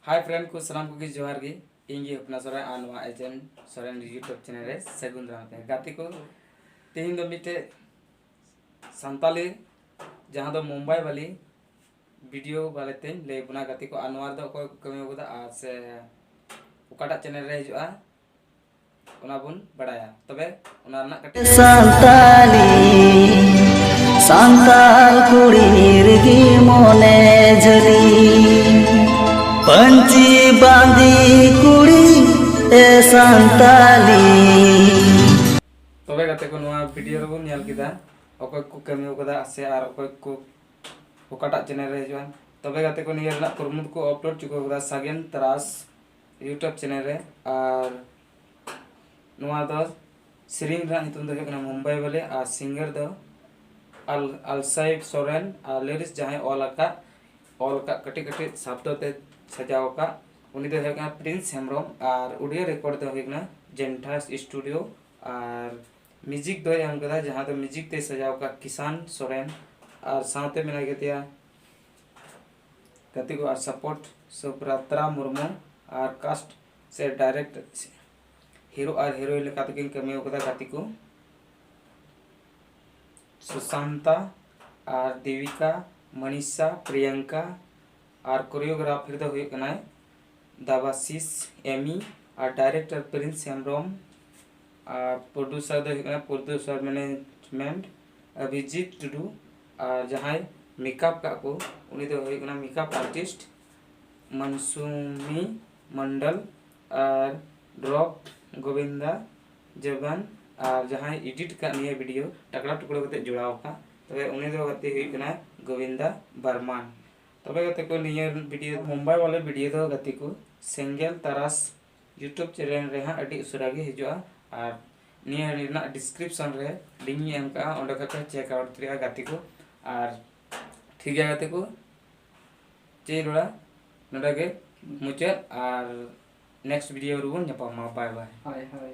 ᱦᱟᱭ friend ᱠᱚ ᱥᱟᱱᱟᱢ ᱠᱚᱜᱮ ᱡᱚᱦᱟᱨ ᱜᱮ ᱤᱧ ᱜᱮ ᱦᱚᱯᱱᱟ ᱥᱚᱨᱮᱱ ᱟᱨ ᱱᱚᱣᱟ ᱮᱡᱮᱱ ᱥᱚᱨᱮᱱ ᱤᱭᱩᱴᱩᱵᱽ ᱪᱮᱱᱮᱞ ᱨᱮ ᱥᱟᱹᱜᱩᱱ ᱫᱟᱨᱟᱢ ᱯᱮ ᱜᱟᱛᱮ ᱠᱚ ᱛᱮᱦᱮᱧ ᱫᱚ ᱢᱤᱫᱴᱮᱡ ᱥᱟᱱᱛᱟᱞᱤ ᱡᱟᱦᱟᱸ ᱫᱚ ᱢᱩᱢᱵᱟᱭ ᱵᱟᱞᱤ ᱵᱷᱤᱰᱤᱭᱳ ᱵᱟᱨᱮ ᱛᱮᱧ ᱞᱟᱹᱭ ᱵᱚᱱᱟ ᱜᱟᱛᱮ ᱠᱚ ᱟᱨ ᱱᱚᱣᱟ ᱨᱮᱫᱚ ᱚᱠᱚᱭ ᱠᱚ ᱠᱟᱹᱢᱤ ᱟᱠᱟᱫᱟ ᱟᱨ ᱥᱮ ᱚᱠᱟᱴᱟᱜ ᱪᱮᱱᱮᱞ ᱨᱮ ᱦᱤᱡᱩᱜᱼᱟ ᱚᱱᱟ ᱵᱚᱱ ᱵᱟᱲᱟᱭᱟ ᱛᱚᱵᱮ ᱚᱱᱟ ᱨᱮᱱᱟᱜ ᱠᱟᱹᱴᱤᱡ ᱥᱟᱱᱛᱟᱞᱤ ᱥᱟᱱᱛᱟᱞ ᱠᱩᱲᱤ ᱨᱮᱜᱮ ᱢᱚᱱᱮ ᱡᱷᱟᱹᱞᱤ ᱯᱟᱹᱧᱪᱤ ᱵᱟᱸᱫᱤ ᱠᱩᱲᱤ ᱮ ᱥᱟᱱᱛᱟᱞᱤ ᱛᱚᱵᱮ ᱜᱟᱛᱮ ᱠᱚ ᱱᱚᱣᱟ ᱵᱷᱤᱰᱤᱭᱳ ᱨᱮᱵᱚᱱ ᱧᱮᱞ ᱠᱮᱫᱟ ᱚᱠᱚᱭ ᱠᱚ ᱠᱟᱹᱢᱤ ᱠᱟᱫᱟ ᱥᱮ ᱟᱨ ᱚᱠᱚᱭ ᱠᱚ ᱚᱠᱟᱴᱟᱜ ᱪᱮᱱᱮᱞ ᱨᱮ ᱦᱤᱡᱩᱜᱼᱟ ᱛᱚᱵᱮ ᱜᱟᱛᱮ ᱠᱚ ᱱᱤᱭᱟᱹ ᱨᱮᱱᱟᱜ ᱠᱩᱨᱩᱢᱩᱴᱩ ᱠᱚ ᱟᱯᱞᱳᱰ ᱪᱩᱠᱟᱹᱣ ᱠᱟᱫᱟ ᱥᱟᱜᱮᱱ ᱛᱟᱨᱟᱥ ᱤᱭᱩᱴᱩᱵᱽ ᱪᱮᱱᱮᱞ ᱨᱮ ᱟᱨ ᱱᱚᱣᱟ ᱫᱚ ᱥᱮᱨᱮᱧ ᱨᱮᱱᱟᱜ ᱧᱩᱛᱩᱢ ᱫᱚ ᱦᱩᱭᱩᱜ ᱠᱟᱱᱟ ᱢᱩᱢᱵᱟᱭ ᱵᱟᱞᱮ ᱟᱨ ᱥᱤᱝᱜᱟᱨ ᱫᱚ ᱟᱞ ᱟᱞᱥᱟᱭᱤᱰ ᱥᱚᱨᱮᱱ ᱟᱨ ᱞᱤᱨᱤᱠᱥ ᱡᱟᱦᱟᱸᱭ ᱚᱞ ᱟᱠᱟᱫ ᱚᱞ ᱟᱠᱟᱫ ᱠᱟᱹᱴᱤᱡ ᱠᱟᱹᱴᱤᱡ ᱥᱟᱵᱫᱚ ᱛᱮ ᱥᱟᱡᱟᱣ ᱟᱠᱟᱫ ᱩᱱᱤ ᱫᱚᱭ ᱦᱩᱭᱩᱜ ᱠᱟᱱᱟ ᱯᱨᱤᱱᱥ ᱦᱮᱢᱵᱨᱚᱢ ᱟᱨ ᱚᱰᱤᱭᱳ ᱨᱮᱠᱚᱨᱰ ᱫᱚ ᱦᱩᱭᱩᱜ ᱠᱟᱱᱟ ᱡᱮᱱᱴᱷᱟᱥ ᱥᱴᱩᱰᱤᱭᱳ ᱟᱨ ᱢᱤᱭᱩᱡᱤᱠ ᱫᱚᱭ ᱮᱢ ᱠᱟᱫᱟ ᱡᱟᱦᱟᱸ ᱫᱚ ᱢᱤᱭᱩᱡᱤᱠ ᱛᱮᱭ ᱥᱟᱡᱟᱣ ᱟᱠᱟᱫ ᱠᱤᱥᱟᱱ ᱥᱚᱨᱮᱱ ᱟᱨ ᱥᱟᱶᱛᱮ ᱢᱮᱱᱟᱭ ᱠᱟᱫᱮᱭᱟ ᱜᱟᱛᱮ ᱠᱚ ᱟᱨ ᱥᱟᱯᱳᱨᱴ ᱥᱩᱵᱨᱟᱛᱨᱟ ᱢᱩᱨᱢᱩ ᱟᱨ ᱠᱟᱥᱴ ᱥᱮ ᱰᱟᱭᱨᱮᱠᱴ ᱦᱤᱨᱳ ᱟᱨ ᱦᱤᱨᱳᱭᱤᱱ ᱞᱮᱠᱟ ᱛᱮᱠᱤᱱ ᱠᱟᱹᱢᱤ ᱟᱠᱟᱫᱟ ᱜᱟᱛᱮ ᱠᱚ ᱥᱩᱥᱟᱱᱛᱟ ᱟᱨ ᱫᱮᱵᱤᱠᱟ ᱢᱚᱱᱤᱥᱟ ᱯᱨᱤᱭᱟᱝᱠᱟ ᱟᱨ ᱠᱳᱨᱤᱭᱳᱜᱨᱟᱯᱷᱟᱨ ᱫᱚ ᱦᱩᱭᱩᱜ ᱠᱟᱱᱟᱭ ᱫᱟᱵᱟᱥᱤᱥ ᱮᱢᱤ ᱟᱨ ᱰᱟᱭᱨᱮᱠᱴᱚᱨ ᱯᱨᱤᱱᱥ ᱦᱮᱢᱵᱨᱚᱢ ᱟᱨ ᱯᱨᱚᱰᱩᱥᱟᱨ ᱫᱚ ᱦᱩᱭᱩᱜ ᱠᱟᱱᱟ ᱯᱨᱚᱰᱩᱥᱟᱨ ᱢᱮᱱᱮᱡᱽᱢᱮᱱᱴ ᱚᱵᱷᱤᱡᱤᱛ ᱴᱩᱰᱩ ᱟᱨ ᱡᱟᱦᱟᱸᱭ ᱢᱮᱠᱟᱯ ᱠᱟᱜ ᱠᱚ ᱩᱱᱤ ᱫᱚ ᱦᱩᱭᱩᱜ ᱠᱟᱱᱟ ᱢᱮᱠᱟᱯ ᱟᱨᱴᱤᱥᱴ ᱢᱟᱱᱥᱩᱢᱤ ᱢᱚᱱᱰᱚᱞ ᱟᱨ ᱰᱨᱚᱯ ᱜᱳᱵᱤᱱᱫᱟ ᱡᱚᱵᱟᱱ ᱟᱨ ᱡᱟᱦᱟᱸᱭ ᱮᱰᱤᱴ ᱠᱟᱜ ᱱᱤᱭᱟᱹ ᱵᱷᱤᱰᱤᱭᱳ ᱴᱟᱠᱲᱟ ᱴᱩᱠᱲᱟᱹ ᱠᱟᱛᱮ ᱡᱚᱲᱟᱣ ᱠᱟᱜ ᱛᱚᱵᱮ ᱩᱱᱤ ᱫᱚ ᱜᱟᱛᱮ ᱦᱩᱭᱩᱜ ᱠᱟᱱᱟ ᱜᱳᱵᱤᱱᱫᱟ ᱵᱟᱨᱢᱟᱱ ᱛᱚᱵᱮ ᱜᱟᱛᱮ ᱠᱚ ᱱᱤᱭᱟᱹ ᱵᱷᱤᱰᱤᱭᱳ ᱢᱩᱢᱵᱟᱭ ᱵᱟᱞᱮ ᱵᱷᱤᱰᱤᱭᱳ ᱫᱚ ᱜᱟᱛᱮ ᱠᱚ ᱥᱮᱸᱜᱮᱞ ᱛᱟᱨᱟᱥ ᱤᱭᱩᱴᱩᱵᱽ ᱪᱮᱱᱮᱞ ᱨᱮ ᱦᱟᱸᱜ ᱟᱹᱰᱤ ᱩᱥᱟᱹᱨᱟ ᱜᱮ ᱦᱤᱡᱩᱜᱼᱟ ᱟᱨ ᱱᱤᱭᱟᱹ ᱨᱮᱱᱟᱜ ᱰᱤᱥᱠᱨᱤᱯᱥᱚᱱ ᱨᱮ ᱞᱤᱝᱠ ᱤᱧ ᱮᱢ ᱠᱟᱜᱼᱟ ᱚᱸᱰᱮ ᱠᱷᱚᱡ ᱯᱮ ᱪᱮᱠ ᱟᱣᱩᱴ ᱫᱟᱲᱮᱭᱟᱜᱼᱟ ᱜᱟᱛᱮ ᱠᱚ ᱟᱨ ᱴᱷᱤᱠ ᱜᱮᱭᱟ ᱜᱟᱛᱮ ᱠᱚ ᱪᱮᱫ ᱤᱧ ᱨᱚᱲᱟ ᱱᱚᱰᱮ ᱜᱮ ᱢᱩᱪᱟᱹᱫ ᱟᱨ ᱱᱮᱠᱥᱴ ᱵᱷᱤᱰᱤᱭᱳ ᱨᱮᱵᱚᱱ ᱧᱟᱯᱟᱢᱟ ᱵᱟᱭ ᱵᱟᱭ ᱦᱳᱭ ᱦᱳᱭ